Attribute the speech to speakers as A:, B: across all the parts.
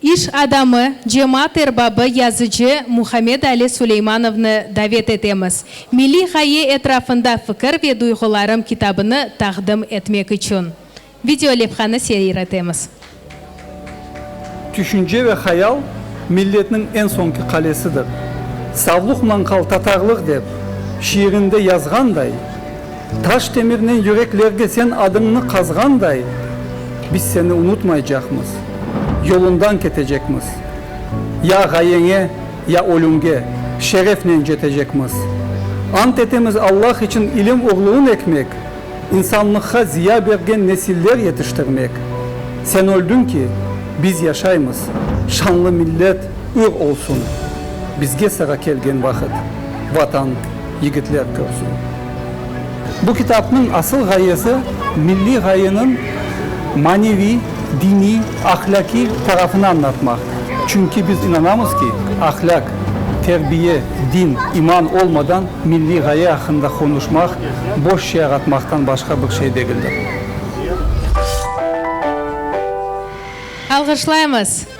A: İş adamı, cemaat erbabı, yazıcı Muhammed Ali Suleymanovnı davet etemiz, Milliy ğaye etrafında fikir ve duyğularım kitabını taqdim etmek içün. Videolevhanı seyir etemiz.
B: Tüşünce ve hayal, milletniñ eñ soñki qalesidir. Savluq-manqal tatarlıq dep, şiirinde yazğanday. Taş temirnen yüreklerge sen adıñnı qazğanday, biz seni unutmaycaqmız, yolundan ketecekmiz. Ya ğayeñe, ya ölümge şerefnen cetecekmiz. Ant etemiz Allah içün ilim urluğın ekmek, insanlıqqa ziya bergen nesiller yetiştirmek. Sen öldüñ ki, biz yaşaymız, şanlı millet ür olsun. Bizge sıra kelgen vaqıt, Vatan, yigitler körsün. Bu kitapnıñ asıl ğayesi milliy ğayeniñ maneviy, diniy, ahlâkiy tarafını añlatmaq. Çünki biz inanamız ki, ahlâk, terbiye, din, iman olmadan milliy ğaye aqqında qonuşmaq boş şiar atmaqtan başqa bir şey degildir.
A: Alğışlaymız!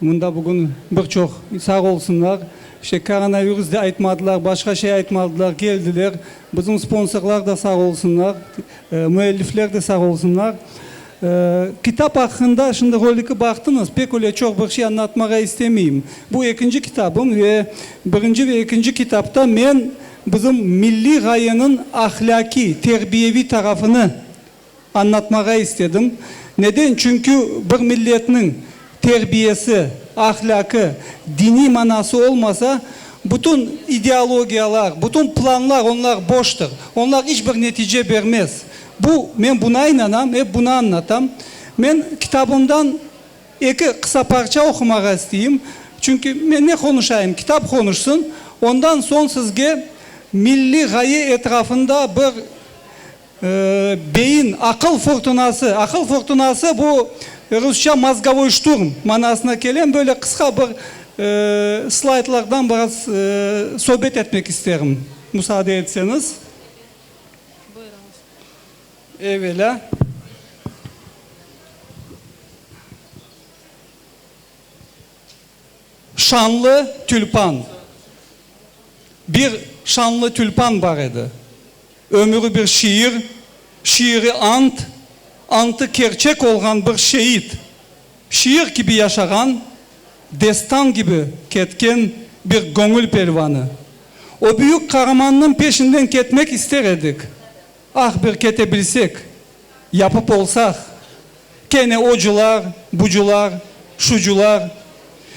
B: Mında bugün bir çoq, sağ olsunlar, işte koronavirus da aytmadılar, başqa şey aytmadılar, keldiler. Bizim sponsorlar da sağ olsunlar, müellifler de sağ olsunlar. Kitap aqqında şimdi roliki baqtıñız, pek öyle çoq bir şey anlatmağa istemeyim. Bu ekinci kitabım ve birinci ve ekinci kitapta men bizim milliy ğayeniñ ahlâkiy, terbiyeviy tarafını, añlatmağa istedim. Neden? Çünki bir milletniñ terbiyesi, ahlâkı, diniy manası olmasa, bütün ideologiyalar, bütün planlar onlar boştır. Onlar iç bir netice bermez. Bu, men buna inanam, ep bunı añlatam. Men kitabımdan eki qısa parça oqumağa isteyim. Çünki men ne qonuşayım, kitap qonuşsın. Ondan soñ sizge milliy ğaye etrafında bir Beyin, aqıl furtunası. Aqıl furtunası, bu rusça mozgovoy şturm manasına kele. Böyle qısqa bir slaydlardan biraz söbet etmek isterim, musaade etseñiz. Evelâ, Şanlı tülpan. Bir şanlı tülpan bar edi. Ömüri bir şiir, şiiri ant, antı kerçek olğan bir şeid. Şiir kibi yaşağan, destan kibi ketken bir göñül pelvanı. O büyük qaramannıñ peşinden ketmek ister edik, Ah, bir kete bilsek, yapıp olsaq, kene ocular, bucular, şucular,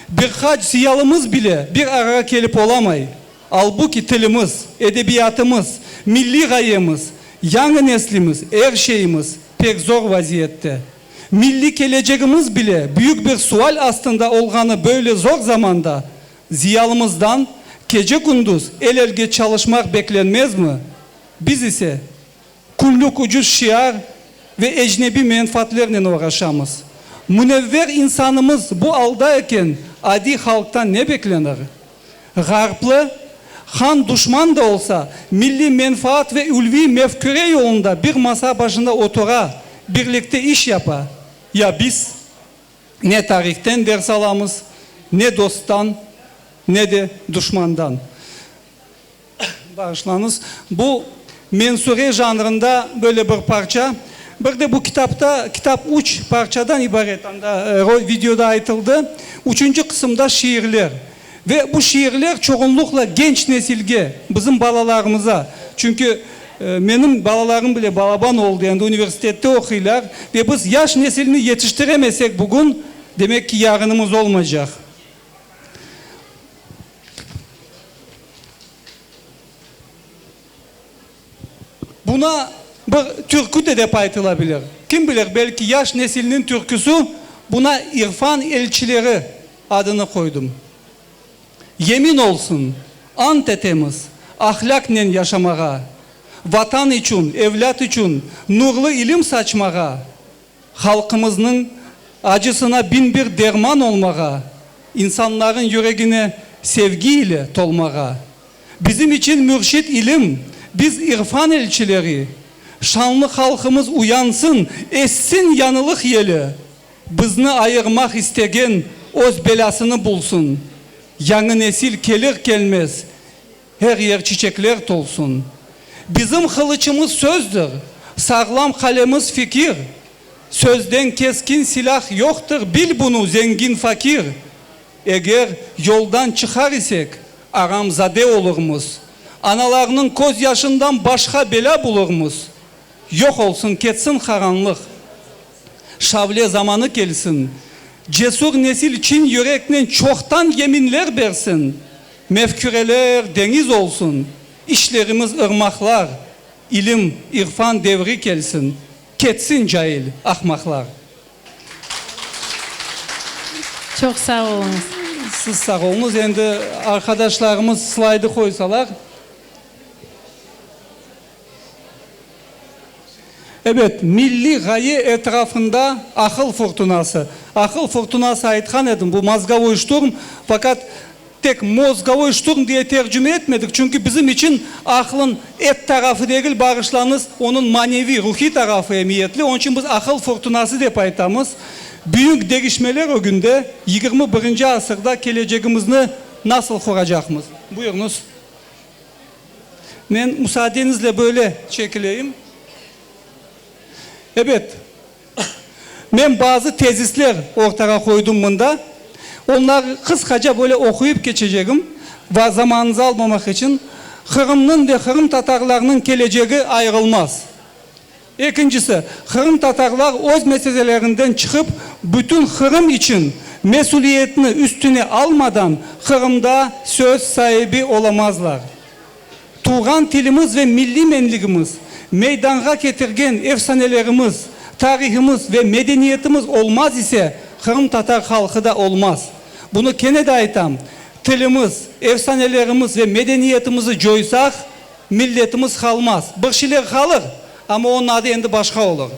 B: bir qaç ziyalımız bile bir arağa kelip olamay, albuki tilimiz, edebiyatımız, milliy ğayemiz, yañı neslimiz, er şeyimiz pek zor vaziyette. Milliy kelecegimiz bile büyük bir sual astında olğanı böyle zor zamanda ziyalımızdan kece-kündüz el-elge çalışmaq beklenmezmi? Biz ise, küllük ucuz şiar ve ecnebiy menfaatlernen oğraşamız. Münevver insanımız bu alda eken adiy halqtan ne beklenir? Ğarplı han duşman da olsa, milliy menfaat ve ülviy mefküre yolunda bir masa başında otura, birlikte iş yapa. Ya biz? Ne tarihten ders alamız, ne dosttan, ne de duşmandan. Bağışlañız, bu mensure janrında böyle bir parça. Bir de bu kitapta, kitap üç parçadan ibaret, anda videoda aytıldı. Üçünci qısımda şiirler. Ve bu şiirler çoğunluqla genç nesilge, bizim balalarımıza. Çünki menim balalarım bile balaban oldı, endi universitette oquylar. Ve biz yaş nesilni yetiştiremesek bugün, demek ki, yarınımız olmaycaq. Buna bir türkü de dep aytıla bilir. Kim bilir, belki yaş nesilniñ türküsü, buna İrfan elçileri adını qoydım. Yemin olsun, ant etemiz, ahlâknen yaşamağa, Vatan içün, evlât içün nurlı ilim saçmağa. Halqımıznıñ acısına biñ bir derman olmağa, insanlarnıñ yüregine sevgi ile tolmağa. Bizim içün mürşit ilim, biz irfan elçileri. Şanlı halqımız uyansın, essin yañılıq yeli, bizni ayırmaq istegen öz belâsını bulsun. Yañı nesil kelir-kelmez. Her yer çiçekler tolsun. Bizim qılıçımız sözdir, sağlam qalemiz fikir, Sözden keskin silâh yoqtır, bil bunu, zengin fakir. Eger yoldan çıqar isek, aramzade olurmız, Analarnıñ köz yaşından başqa belâ bulurmız. Yoq olsun, ketsin qaranlıq, şavle zamanı kelsin, Cesur nesil çin yüreknen çoqtan yeminler bersin. Mefküreler deñiz olsun, işlerimiz ırmaqlar, ilim, irfan devri kelsin, ketsin cail, ahmaqlar.
A: Çoq sağ oluñız. Siz sağ
B: oluñız. Endi arqadaşlarımız slaydı qoysalar. Ebet, milliy ğaye etrafında aqıl furtunası, aqıl furtunası aytqan edim, bu mozgovoy şturm, faqat tek mozgovoy şturm diye tercüme etmedik, çünki bizim içün aqlın et tarafı degil, bağışlañız, onıñ maneviy, ruhiy tarafı emiyetli, onıñ içün biz aqıl furtunası dep aytamız. Büyük degişmeler ögünde, yigirmi birinci asırda kelecegimizni nasıl quracaqmız? Buyurıñız. Men musaadenizle böyle çekileyim. Ebet, men bazı tezisler ortağa qoydım mında. Onları qısqaca böyle oquyıp keçecegim. Va zamanıñızı almamaq içün, Qırımnıñ ve qırımtatarlarnıñ kelecegi ayırılmaz. Ekincisi, qırımtatarlar öz meselelerinden çıqıp, bütün Qırım içün mesüliyetni üstüne almadan Qırımda söz saibi olamazlar. Tuvğan tilimiz ve milliy menligimiz, meydanğa ketirgen efsanelerimiz, tarihimiz ve medeniyetimiz olmaz ise, qırımtatar halqı da olmaz. Bunı kene de aytam, tilimiz, efsanelerimiz ve medeniyetimizi coysaq, Milletimiz qalmaz. Bıhşiler qalır, amma onıñ adı endi başqa olur.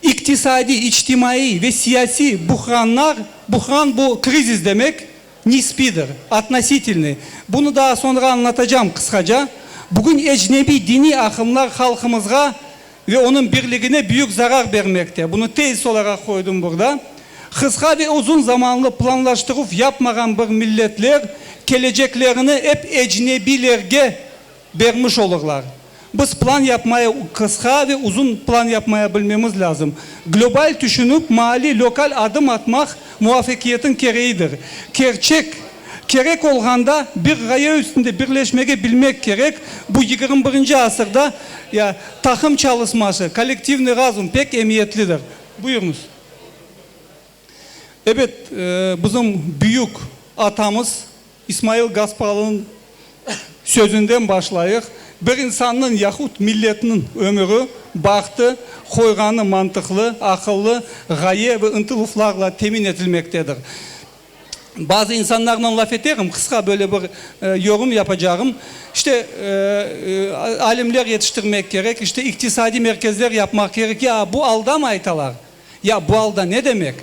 B: İqtisadiy, içtimaiy ve siyasiy buhranlar, buhran bu krizis demek, nisbidir, atnositilnıy. Bunı daa soñra añlatacam qısqaca. Bugün ecnebiy diniy aqımlar halqımızğa Ve onıñ birligine büyük zarar bermekte. Bunı tezis olaraq qoydım burada. Qısqa ve uzun zamanlı planlaştıruv yapmağan bir milletler keleceklerini ep ecnebilerge bermiş olurlar. Biz plan yapmaya, qısqa ve uzun plan yapmaya bilmemiz lâzım. Global tüşünip, maali, lokal adım atmaq muvafaqiyetiñ kereğidir. Kerçek. Kerek olğanda bir ğaye üstünde birleşmege bilmek kerek, bu yigirmi birinci asırda ya taqım çalışması, kollektivnıy razum pek emiyetlidir. Buyurıñız. Ebet, bizim büyük atamız İsmail Gasparalınıñ sözünden başlayıq, bir insannıñ yahut milletniñ ömüri, bahtı, qoyğanı mantıqlı, aqıllı ğaye ve ıntıluflarla temin etilmektedir. Bazı insanlarnen laf eterim, qısqa böyle bir yorım yapacağım. İşte, alimler yetiştirmek kerek, işte, iqtisadiy merkezler yapmaq kerek. Ya bu alda mı aytalar? Ya bu alda ne demek?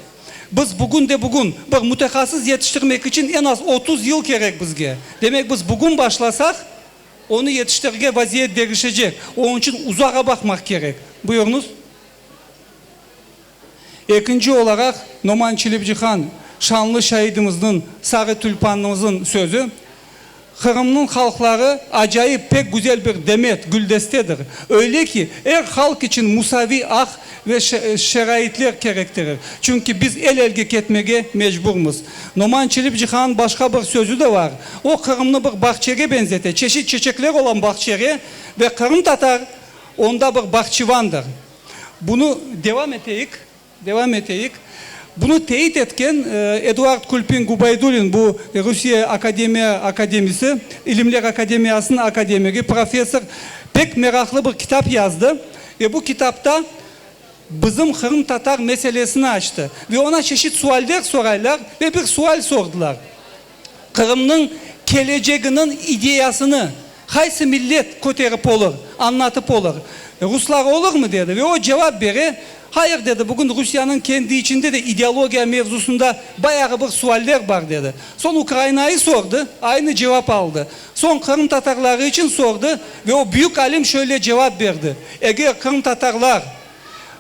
B: Biz bugün de bugün bir mütehassıs yetiştirmek içün en az otuz yıl kerek bizge. Demek, biz bugün başlasaq, onı yetiştirge vaziyet degişecek. Onıñ içün uzağa baqmaq kerek. Buyurıñız. Ekinci olaraq, Noman Çelebicihan, şanlı şaidimizniñ, sarı tülpannımızıñ sözü, Qırımnıñ halqları acayip, pek güzel bir demet, güldestedir. Öyle ki, er halq içün musaviy aq ve şaraitler kerektirir. Çünki biz el-elge ketmege mecburmız. Noman Çelebicihanıñ başqa bir sözü de var. O, Qırımnı bir bağçege benzete, çeşit çeçekler olan bağçege ve qırımtatar onda bir bağçıvandır. Bunı devam eteyik, devam eteyik. Bunı teit etken Eduard Kulpin Gubaydulin, bu Rusiye akademiya akademisi, İlimler akademiyasınıñ akademigi, professor, pek meraqlı bir kitap yazdı ve bu kitapta bizim qırımtatar meselesini açtı. Ve ona çeşit sualler soraylar ve bir sual sordılar. Qırımnıñ keleceginiñ ideyasını qaysı millet köterip olur, añlatıp olur? Ruslar olurmı? dedi. Ve o cevap bere, Hayır, dedi, bugün Rusiyanıñ kendi içinde de ideologiya mevzusında bayağı bir sualler bar, dedi. Soñ Ukrainayı sordı, aynı cevap aldı. Soñ qırımtatarları içün sordı ve o büyük alim şöyle cevap berdi, Eger qırımtatarlar,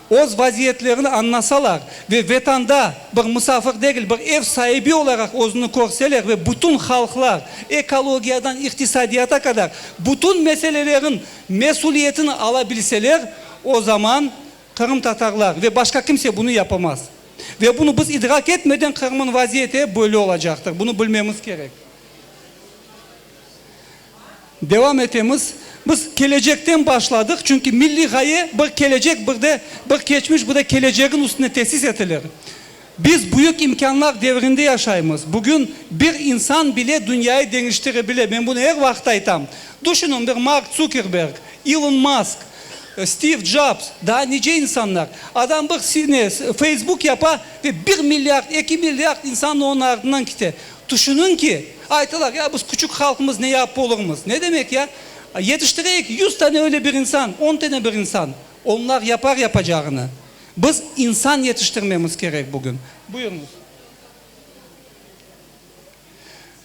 B: Öz vaziyetlerini añlasalar ve Vatanda bir musafir degil, bir ev saibi olaraq özüni körseler ve bütün halqlar, ekologiyadan iqtisadiyata qadar bütün meselelerin mesüliyetini ala bilseler, o zaman qırımtatarlar ve başqa kimse bunı yapamaz. Ve bunı biz idrak etmeden Qırım'ın vaziyeti böyle olacaqtır. Bunı bilmemiz kerek. Devam etemiz, Biz kelecekten başladıq, çünki milliy ğaye bir kelecek, bir de bir keçmiş, bir de kelecegiñ üstüne tesis etilir. Biz büyük imkânlar devrinde yaşaymız. Bugün bir insan bile dünyayı deñiştire bile. Men bunı er vaqıt aytam. Düşünüñ, bir Mark Zukerberg, İlon Mask, Stiv Jobs, daa nice insanlar. Adam bir ne, Facebook yapa ve bir milyard, eki milyard insan onıñ artından kite. Tüşüniñ ki, aytılar, ya biz küçük halqmız, ne yapıp olurmız? Ne demek ya? Yetiştireyik yüz tane öyle bir insan, on tane bir insan. Onlar yapar yapacağını. Biz insan yetiştirmemiz kerek bugün. Buyurıñız.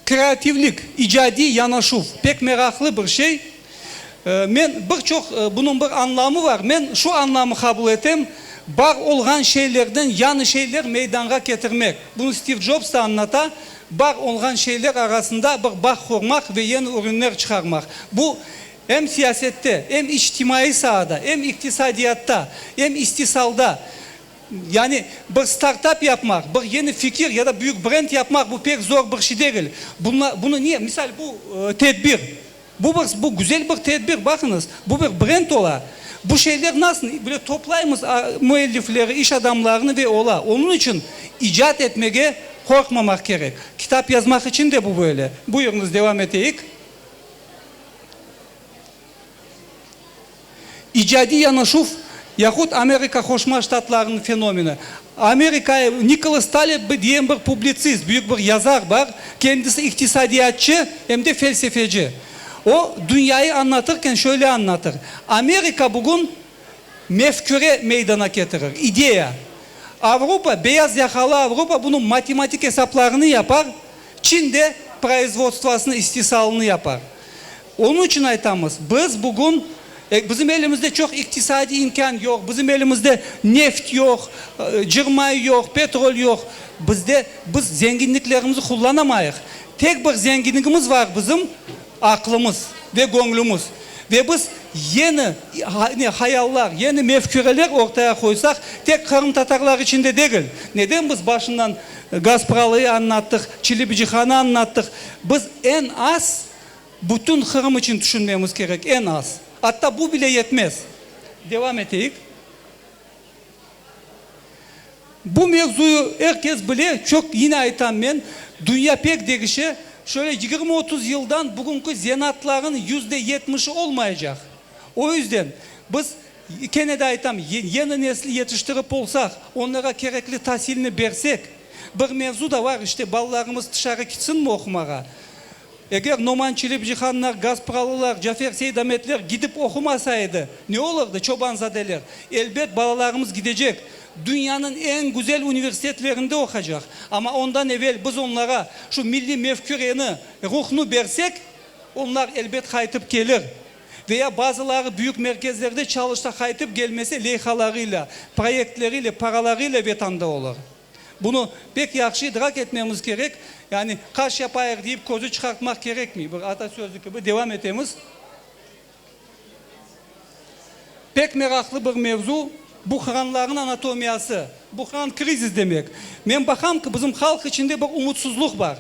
B: Kreativlik, icadiy yanaşuv, pek meraqlı bir şey. Men bir çoq, bunıñ bir añlamı bar, men şu añlamı qabul etem, bar olğan şeylerden yañı şeyler meydanğa ketirmek. Bunı Stiv Jobs da añlata, bar olğan şeyler arasında bir bağ qurmaq ve yeñi ürünler çıqarmaq. Bu, em siyasette, em içtimaiy saada, em iqtisadiyatta, em istisalda, yani bir startap yapmaq, bir yeñi fikir ya da büyük brend yapmaq, bu pek zor bir şey degil. Bunla, bunı ne, misal, bu tedbir, Bu bir, bu güzel bir tedbir, baqıñız, bu bir brend ola. Bu şeyler nasıl böyle toplaymız müellifleri, iş adamlarını ve ola. Onıñ içün icat etmege qorqmamaq kerek. Kitap yazmaq içün de bu böyle. Buyurıñız, devam eteyik. İcadiy yanaşuv yahut Amerika Qoşma Ştatlarınıñ fenomeni. Amerika, Nikolas Taleb diyen bir publitsist, büyük bir yazar bar, kendisi iqtisadiyatçı, em de felsefeci. O, dünyayı añlatırken şöyle añlatır, Amerika bugün mefküre meydana ketirir, ideya. Avrupa, beyaz yakalı Avrupa bunıñ matematik esaplarını yapar, Çin de proizvodstvosını, istisalını yapar. Onıñ içün aytamız, biz bugün, bizim elimizde çoq iqtisadiy imkân yoq, bizim elimizde neft yoq, cığ mayı yoq, petrol yoq, bizde, biz zenginliklerimizni qullanamayıq. Tek bir zenginligimiz bar bizim, aqlımız ve göñlümiz. Ve biz yeni hayallar, yeni mefküreler ortaya qoysaq, tek qırımtatarlar içinde degil, neden biz başından Gaspralı'yı añlattıq, Çilibicihan'ı añlattıq, biz eñ az Bütün Qırım içün tüşünmemiz kerek, eñ az. Atta bu bile yetmez. Devam eteyik. Bu mevzuyı er kes bile, çoq, yine aytam men, dünya pek degişe, şöyle yigirmi otuz yıldan bugünki zenaatlarnıñ yüzde yetmişi olmayacaq. O yüzden biz, kene de aytam, yeni nesli yetiştirip olsaq, onlara kerekli tasilni bersek, bir mevzu da var, işte, balalarımız tışarı kitsinmi oqumağa? Eger Noman Çilip-Cihanlar, Gaspralılar, Cafer Seydametler gidip oqumasa edi, ne olurdı, Çobanzadeler? Elbet, balalarımız gidecek, dünyanıñ eñ güzel universitetlerinde oqacaq. Amma ondan evel biz onlara şu milliy mefküreni, ruhnı bersek, onlar, elbet, qaytıp kelir. Ve ya bazıları büyük merkezlerde çalışsa, qaytıp kelmese, leyhalarıyla, proyektleriyle, paralarıyla Vatanda olur. Bunı pek yahşı idrak etmemiz kerek, yani qaş yapayıq deyip közü çıqartmaq kerekmey, bir ata sözü kibi devam etemiz. Pek meraqlı bir mevzu, buhranlarnıñ anatomiyası, buhran krizis demek. Men baqam ki, bizim halq içinde bir umutsuzluq bar.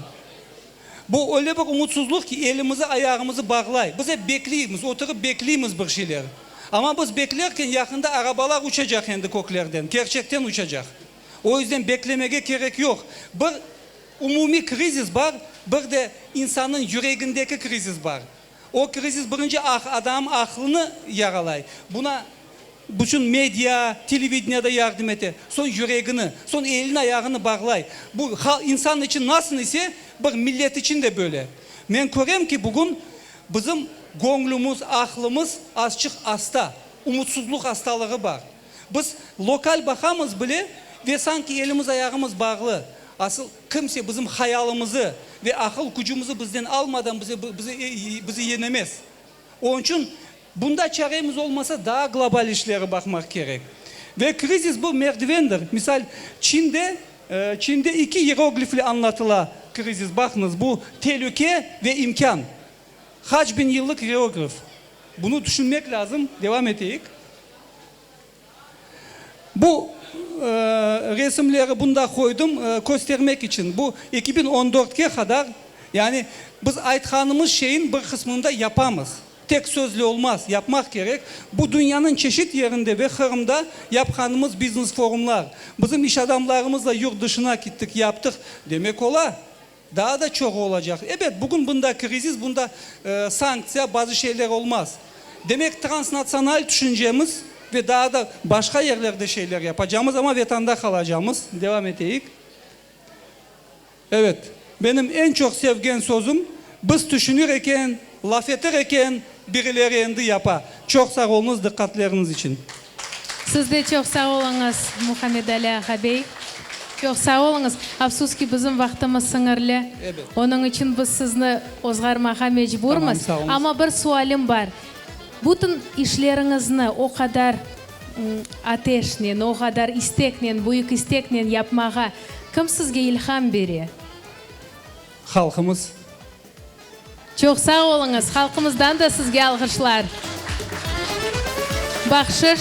B: Bu öyle bir umutsuzluq ki, elimizi, ayağımızı bağlay. Biz ep bekleymiz, oturıp bekleymiz bir şeyler. Amma biz beklerken yaqında arabalar uçacaq endi köklerden, kerçekten uçacaq. O yüzden beklemege kerek yoq. Bir umumiy krizis bar, bir de insannıñ yüregindeki krizis bar. O krizis birinci adam aqlını yaralay. Buna bütün media, televideniye de yardım ete. Soñ yüregini, soñ elini, ayağını bağlay. Bu insan içün nasıl ise, bir millet içün de böyle. Men körem ki, bugün bizim göñlümiz, aqlımız azçıq asta, umutsızlıq astalığı bar. Biz lokal baqamız bile ve sanki elimiz ayağımız bağlı. Asıl kimse bizim hayalımızı ve aqıl kücümizi bizden almadan bize bizi yenemez. Onıñ içün bunda çaremiz olmasa daa global işleri baqmaq kerek. Ve krizis bu merdivendir. Misal Çinde Çinde iki iyeroglifle añlatıla krizis. Baqıñız bu telüke ve imkân. Qaç biñ yıllıq geograf, bunı tüşünmek lâzım, devam eteyik. Bu resimleri bunda qoydım, köstermek içün. Bu eki biñ on dörtke qadar, yani biz aytqanımız şeyin bir qısmını da yapamız. Tek sözle olmaz, yapmaq kerek. Bu dünyanıñ çeşit yerinde ve Qırımda yapqanımız biznes-forumlar. Bizim iş adamlarımızla yurt dışına kittik, yaptıq, demek ola. Daa da çoğu olacaq. Ebet, bugün bunda krizis, bunda sanktsiya, bazı şeyler olmaz. Demek, transnatsional tüşüncemiz ve daa da başqa yerlerde şeyler yapacamız, amma Vatanda qalacamız. Devam eteyik. Ebet, benim eñ çoq sevgen sözüm, biz tüşünir eken, laf etir eken, Birileri endi yapa. Çoq sağ oluñız diqqatleriniz içün. Siz de
A: çoq sağ oluñız, Muhammedali ağabey. Çoq sağ oluñız. Afsus ki, bizim vaqtımız sıñırlı. Ebet. Onıñ içün
B: biz
A: sizni ozğarmağa mecburmız. Tamam, sağ oluñız. Amma bir
B: sualim
A: bar. Bütün işleriñizni o qadar ateşnen, o qadar isteknen, büyük isteknen yapmağa kim sizge ilham bere?
B: Halqımız.
A: Çoq sağ oluñız, halqımızdan da sizge alğışlar. Bahşış.